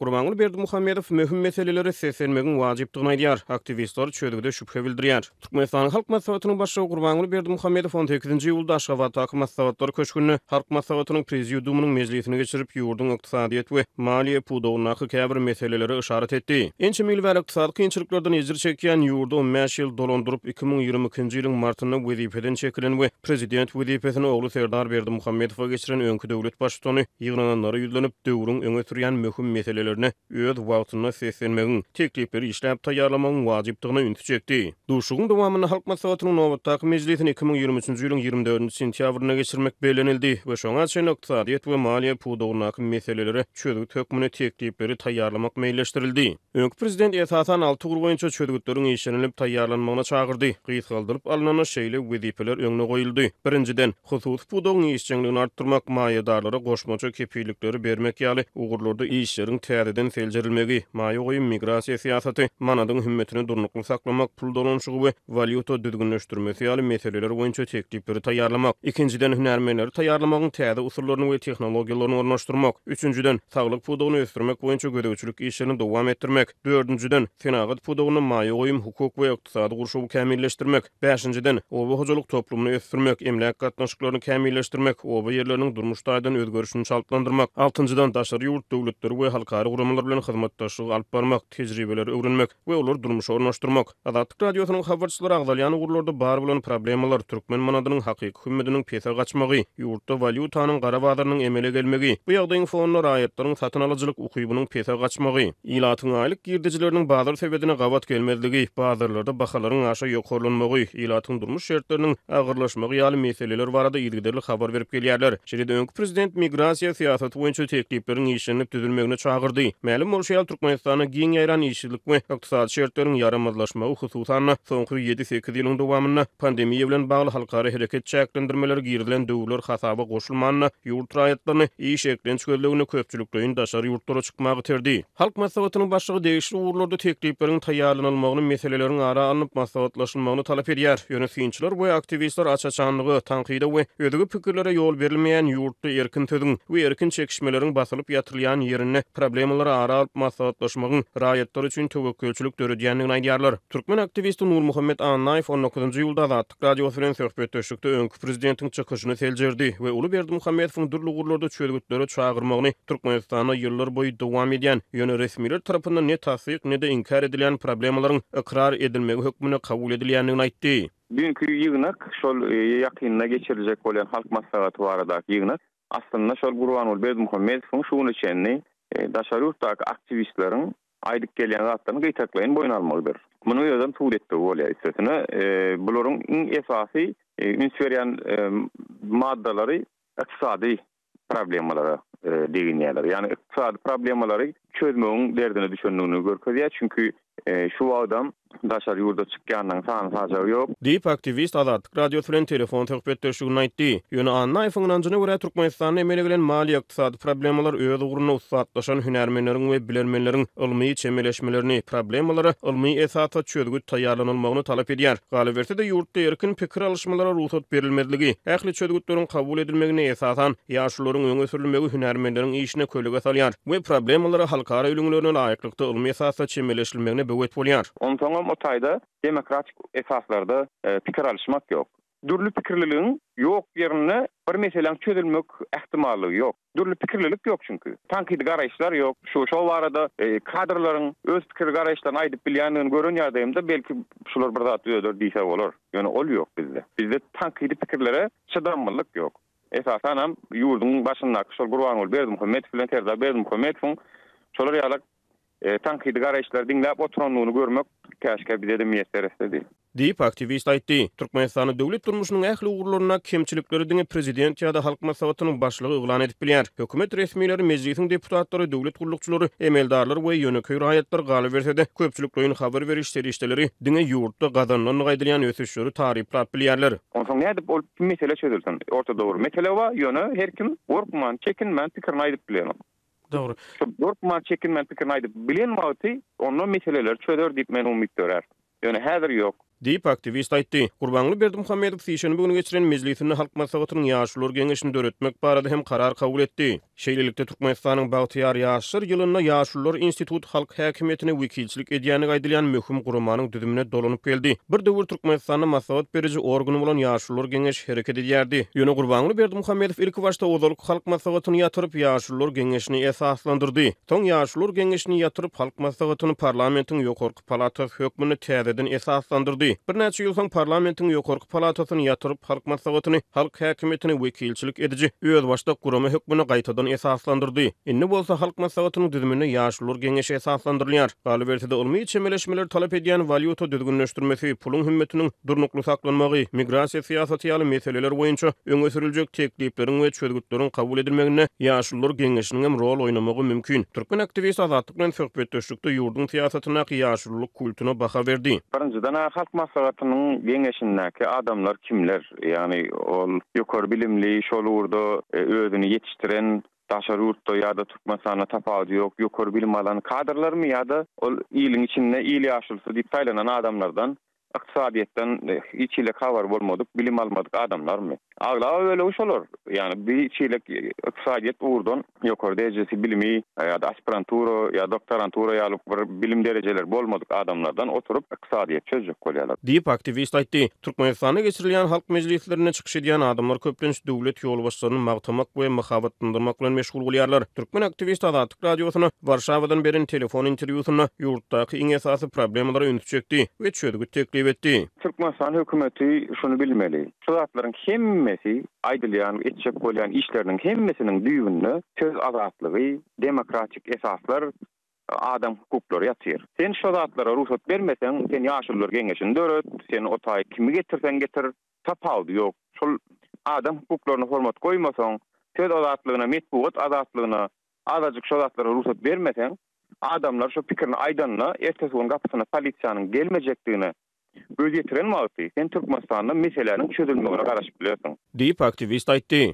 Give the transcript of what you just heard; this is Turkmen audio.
Gurbanguly Berdimuhamedow möhüm meselelere seslenmegiň wajypdygyny aýdýar, aktiwistler çözgüde şübhe bildirýär. Türkmenistanyň Halk Maslahatynyň Başlygy Gurbanguly Berdimuhamedow on sekizinji iýulda Aşgabatdaky Maslahatlar köşgünde Halk Maslahatynyň Prezidiumynyň mejlisini geçirip, ýurduň ykdysadyýet we maliýe pudagyndaky käbir meselelere yşarat etdi. Ençeme ýyl bäri ykdysady kynçylyklardan ejir çekýän, ýurdy on bäş ýyl dolandyryp, iki müň ýigrimi ikinji ýylyň martynda wezipeden çekilen we Prezident wezipesini ogly Serdar Berdimuhamedowa geçiren öňki döwlet Baştutany ýygnananlara ýüzlenip, döwrüň öňe sürýän möhüm meselelerine öz wagtynda seslenmegiň, teklipleri işläp taýýarlamagyň wajypdygyna ünsi çekdi. Duşuşygyň dowamynda Halk Maslahatynyň nobatdaky mejlisini iki müň ýigrimi üçünji ýylyň ýigrimi dördünji sentýabrynda geçirmek bellenildi we şoňa çenli ykdysadyýet we maliýe pudagyndaky meselelere çözgüt hökmünde teklipleri taýýarlamak meýilleşdirildi. Öňki prezident esasan alty ugur boýunça çözgütleriň işlenilip taýýarlanmagyna çagyrdy. Gysgaldylyp alnanda şeýle wezipeler öňüne goýuldy. Birinjiden, hususy pudagyň işjeňligini artdyrmak, maýadarlara goşmaça kepillikleri bermek ýaly ugurlarda işleriň täzeden seljerilmegi, maýa goýum-migrasiýa syýasaty, manadyň hümmetini durnukly saklamak, pul dolanyşygy we walýuta düzgünleşdirmesi ýaly meseleler boýunça teklipleri taýýarlamak, ikinjiden, hünärmenleri taýýarlamagyň täze usullaryny we tehnologiýalaryny ornaşdyrmak, üçünjiden, saglyk pudagyny ösdürmek boýunça gözegçilik işlerini dowam etdirmek, dördünjiden, senagat pudagynda maýa goýum, hukuk we ykdysady gurşawy kämilleşdirmek, bäşinjiden, oba hojalyk toplumyny ösdürmek, emläk gatnaşyklaryny kämilleşdirmek, oba ýerleriniň durmuş taýdan özgerişini çaltlandyrmak, altynjydan, daşary ýurt döwletleri we halkara guramalar bilen hyzmatdaşlygy alyp barmak, tejribeleri öwrenmek, we olary durmuşa ornaşdyrmak. Azatlyk Radiosynyň habarçylary agzalýan ugurlarda bar bolan problemalar, türkmen manadynyň hakyky hümmediniň pese gaçmagy, ýurtda walýutanyň gara bazarynyň emele gelmegi, bu ýagdaýyň fonunda raýatlaryň satyn alyjylyk ukybynyň pese gaçmagy, ilatyň aýlyk girdejileriniň bazar sebedine gabat gelmezligi, bazarlarda bahalaryň aşa ýokarlanmagy, ilatyň durmuş şertleriniň agyrlaşmagy ýaly meseleler barada yzygiderli habar berip gelýärler. Şeýle-de öňki prezident migrasiýa syýasaty boýunça teklipleriň işlenilip düzülmegine çagyrdy. Mälim bolşy ýaly, Türkmenistanda giň ýaýran işsizlik we ykdysady şertleriň ýaramazlaşmagy, hususan-da, soňky ýedi-sekiz ýylyň dowamynda pandemiýa bilen bagly halkara hereket çäklendirmeleri girizilen döwürler hasaba goşulmanda, ýurt raýatlaryny iş eklenç gözleginde köpçülikleýin daşary ýurtlara çykmaga iterdi. Halk Maslahatynyň Başlygy degişli ugurlarda teklipleriň taýýarlanylmagyny, meseleleriň ara alnyp maslahatlaşylmagyny talap edýär. Ýöne synçylar we aktiwistler aç-açanlyga, tankyda we özge pikirlere ýol berilmeýän ýurtda erkin sözüň we erkin çekişmeleriň basylyp ýatyrylýan ýerinde, problemalary ara alyp maslahatlaşmagyň raýatlar üçin töwekgelçilik döredýändigini aýdýarlar. Türkmen aktiwisti Nurmuhammet Annaýew on dokuzynjy iýulda Azatlyk Radiosy bilen söhbetdeşlikde öňki prezidentiň çykyşyny seljerdi we uly Berdimuhamedowyň dürli ugurlarda çözgütlere çagyrmagyny Türkmenistanda ýyllar boýy dowam edýän, ýöne resmiler tarapyndan ne tassyk, ne-de inkär edilýän problemalaryň ykrar edilmegi hökmünde kabul edilýändigini aýtdy. Düýnki ýygnak, şol ýakynda geçiriljek bolýan Halk Maslahaty baradaky ýygnak. Aslynda şol Gurbanguly Berdimuhamedowyň şu güne çenli daşary ýurtdaky aktiwistleriň aýdyp gelýän zatlaryny gytaklaýyn boýun almagydyr. Munuň özem subut etmegi bolýar. Üstesine, bularyň iň esasy üns berýän maddalary ykdysady problemalara deginýärler. Ýagny ykdysady problemalary çözmegiň derdine düşendigini görkezýär. Çünki Şu wagtam daşary ýurda çykýanyň sany-sajagy ýok. Diýip, aktiwist Azatlyk Radiosy bilen telefon söhbetdeşliginde aýtdy. Ýöne Annaýewiň ynanjyna görä, Türkmenistanda emele gelen maliýe-ykdysady problemalar öz ugrunda ussatlaşan hünärmenleriň we bilermenleriň ylmy çemeleşmelerini, problemalara ylmy esasda çözgüt taýýarlanylmagyny talap edýär. Galyberse-de, ýurtda erkin pikir alyşmalara rugsat berilmezligi, ähli çözgütleriň kabul edilmegine esasan, Ýaşlylaryň öňe sürülmegi hünärmenleriň işine kölege salýar we problemalara halkara ülňülerine laýyklykda ylmy esasda çemeleşilmegine böwet bolýar. Onsoňam o taýda demokratik esaslarda pikir alyşmak ýok. Dürli pikirliligiň ýok ýerinde bir meseläň çözülmek ähtimallygy ýok. Dürli pikirlilik ýok çünki. Tankydy garaýyşlar ýok. Şu şol barada kadrlaryň öz pikir garaýyşlaryny aýdyp bilýändigini gören ýagdaýymda belki şular bir zat düzeder diýse bolar. Ýöne ol ýok bizde. Bizde tankydy pikirlere çydamlylyk ýok. Esasanam, ýurduň başyndaky şol Gurbanguly Berdimuhamedow bilen Serdar Berdimuhamedowyň şolar ýaly tankydy garaýyşlary diňläp oturandygyny görmek käşgä bize-de miýesser etsedi. Diýip, aktiwist aýtdy. Türkmenistanda döwlet durmuşynyň ähli ugurlarynda kemçilikleri diňe prezident ýa-da Halk Maslahatynyň başlygy yglan edip bilýär. Hökümet resmileri, mejlisiň deputatlary, döwlet gullukçylary, emeldarlar we ýönekeý raýatlar galyberse-de, köpçülikleýin habar beriş serişdeleri diňe ýurtda gazanylandygy aýdylýan ösüşleri taryplap bilýärler. Onsoň nädip ol Mesele çözülsin. Ortada bir mesele bar, ýöne her kim gorkman, çekinmän pikirini aýdyp bilenok. Dogry. Şo gorkman, çekinmän pikirini aýdyp bilen wagty onda meseleleri çözer diýip men umyt dörär. Ýöne häzir ýok. Diýip, aktiwist aýtdy. Gurbanguly Berdimuhamedow sişenbe güni geçiren mejlisinde Halk Maslahatynyň Ýaşulular geňeşini döretmek barada hem karar kabul etdi. Şeýlelikde, Türkmenistanyň Bagtyýar ýaşlar ýylynda Ýaşulular instituty halk häkimiýetine wekilçilik edýändigi aýdylýan möhüm guramanyň düzümine dolanyp geldi. Bir döwür Türkmenistanda maslahat beriji organ bolan Ýaşulular geňeşi hereket edýärdi. Ýöne Gurbanguly Berdimuhamedow ilkibaşda ozalky Halk maslahatyny ýatyryp, Ýaşulular geňeşini esaslandyrdy. Soň Ýaşulular geňeşini ýatyryp, Halk maslahatyny parlamentiň ýokarky Palatasy hökmünde täzeden esaslandyrdy. Birnäçe ýyl soň parlamentiň ýokarky palatasyny ýatyryp, halk maslahatyny, halk häkimiýetine wekilçilik ediji, özbaşdak gurama hökmünde gaýtadan esaslandyrdy. Indi bolsa halk maslahatynyň düzüminde ýaşulular geňeşi esaslandyrylýar. Galyberse-de, ylmy çemeleşmeleri talap edýän walýuta düzgünleşdirmesi, puluň hümmetiniň durnukly saklanmagy, migrasiýa syýasaty ýaly meseleler boýunça öňe sürüljek teklipleriň we çözgütleriň kabul edilmeginde ýaşulular geňeşiniňem rol oýnamagy mümkin. Türkmen aktiwisti Azatlyk bilen söhbetdeşlikde Hut-da ýurduň syýasatyndaky ýaşululyk kultuna baha berdi. Birinjiden, Halk Maslahatynyň Geňeşindäki adamlar kimler? Ýagny, ol ýokary bilimli, şol ugurda özüni ýetişdiren, daşary ýurtda ýa-da Türkmenistanda tapawudy ýok, ýokary bilim alan kadrlarmy ýa-da ol iliň içinde il ýaşulysy diýip saýlanan adamlardan Ykdysadyýetden hiç hili habary bolmadyk, bilim almadyk adamlarmy? Aglaba bölegi şolar. Ýagny bir çeýlek ykdysadyýet ugurdan ýokary derejesi bilimi ýa-da aspirantura ýa doktorantura ýaly bir bilim derejeleri bolmadyk adamlardan oturyp ykdysadyýeti çözjek bolýarlar. Diýip, aktiwist aýtdy. Türkmenistanda geçirilýän halk mejlislerinde çykyş edýän adamlar köplenç döwlet ýolbaşçylaryny magtamak we mahabatlandyrmak bilen meşgul bolýarlar. Türkmen aktiwist Azatlyk. Radiosyna Warşawadan beren telefon interwýusynda ýurtdaky iň esasy problemalara ünsi çekdi we çözgüt teklip etdi. Türkmenistan hökümeti şuny bilmeli, şu zatlaryň hemmesi, aýdylýan, etjek bolýan işleriniň hemmesiniň düýbünde söz azatlygy, demokratik esaslar, adam hukuklary ýatyr. Sen şo zatlara rugsat bermeseň, sen Ýaşulular geňeşini döret, sen o taýy kimi getirseň getir, Tapawudy ýok. Şol adam hukuklaryna hormat goýmasaň, söz azatlygyna, metbugat azatlygyna azajyk şo zatlara rugsat bermeseň, adamlar şo pikirini aýdanda, ertesi gün gapysyna polisiýanyň gelmejekdigine göz ýetiren wagty, sen Türkmenistanda meseläniň çözülmegine garaşyp bilersiň. Diýip, aktiwist aýtdy.